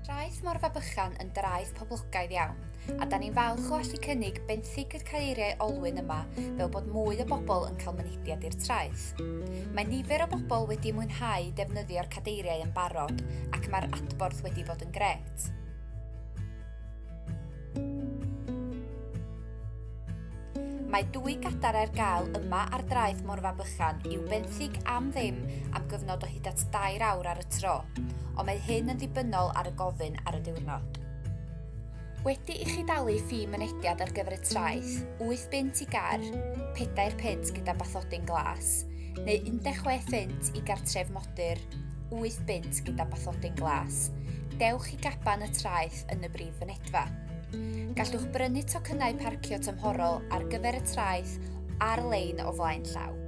Daeth Morfa Bychan yn draeth poblogaidd iawn, a da ni'n falch o allu cynnig benthyg y caeiriau olwyn yma fel bod mwy o bobl yn cael mynediad i'r traeth. Mae nifer o bobl wedi mwynhau defnyddio'r cadeiriau yn barod ac mae'r adborth wedi bod yn gret. Mae dwy gadar ar gael yma ar draeth Morfa Bychan i'w benthyg am ddim am gyfnod o hyd at dair awr ar y tro, ond mae hyn yn ddibynnol ar y gofyn ar y diwrnod. Wedi i chi dalu ffi mynediad ar gyfer y traeth, 8 bunt i gar, 4 punt gyda bathodyn glas, neu 16 funt i gartref modern, frodyr, wyth bunt gyda bathodyn glas, dewch i gaban y traeth yn y brif fynedfa. Gallwch brynu tocynnau parcio tymhorol ar gyfer y traeth ar-lein o flaen llaw.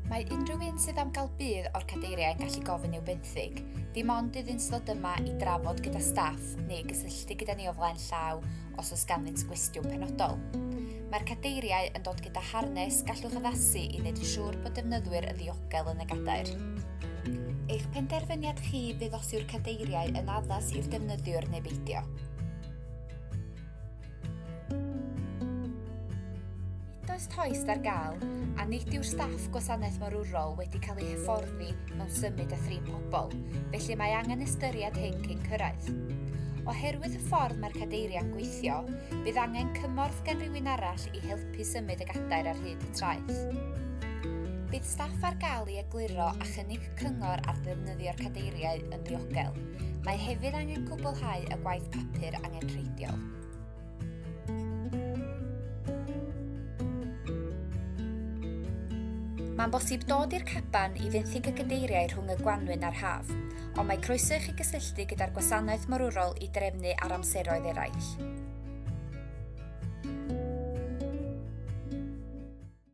Mae unrhyw un sydd am gael budd o'r cadeiriau yn gallu gofyn i'w benthyg, dim ond iddynt ddod yma i drafod gyda staff neu gysylltu gyda ni o flaen llaw os oes ganddynt gwestiwn penodol. Mae'r cadeiriau yn dod gyda harnes gallwch addasu i wneud yn siŵr bod defnyddwyr yn ddiogel yn y gadair. Eich penderfyniad chi fydd os yw'r cadeiriau yn addas i'r defnyddiwr neu beidio. Nid oes tost ar gael, a nid yw'r staff gwasanaeth morwrol wedi cael ei hyfforddi mewn symud a thrin pobl, felly mae angen ystyried hyn cyn cyrraedd. Oherwydd y ffordd mae'r cadeiriau'n gweithio, bydd angen cymorth gan rywun arall i helpu symud y gadair ar hyd y traeth. Bydd staff ar gael i egluro a chynnig cyngor ar ddefnyddio'r cadeiriau yn ddiogel. Mae hefyd angen cwblhau y gwaith papur angenrheidiol. Mae'n bosib dod i'r caban i fenthyg y gadeiriau rhwng y gwanwyn a'r haf, ond mae croeso i chi gysylltu gyda'r gwasanaeth morwrol i drefnu ar amseroedd eraill.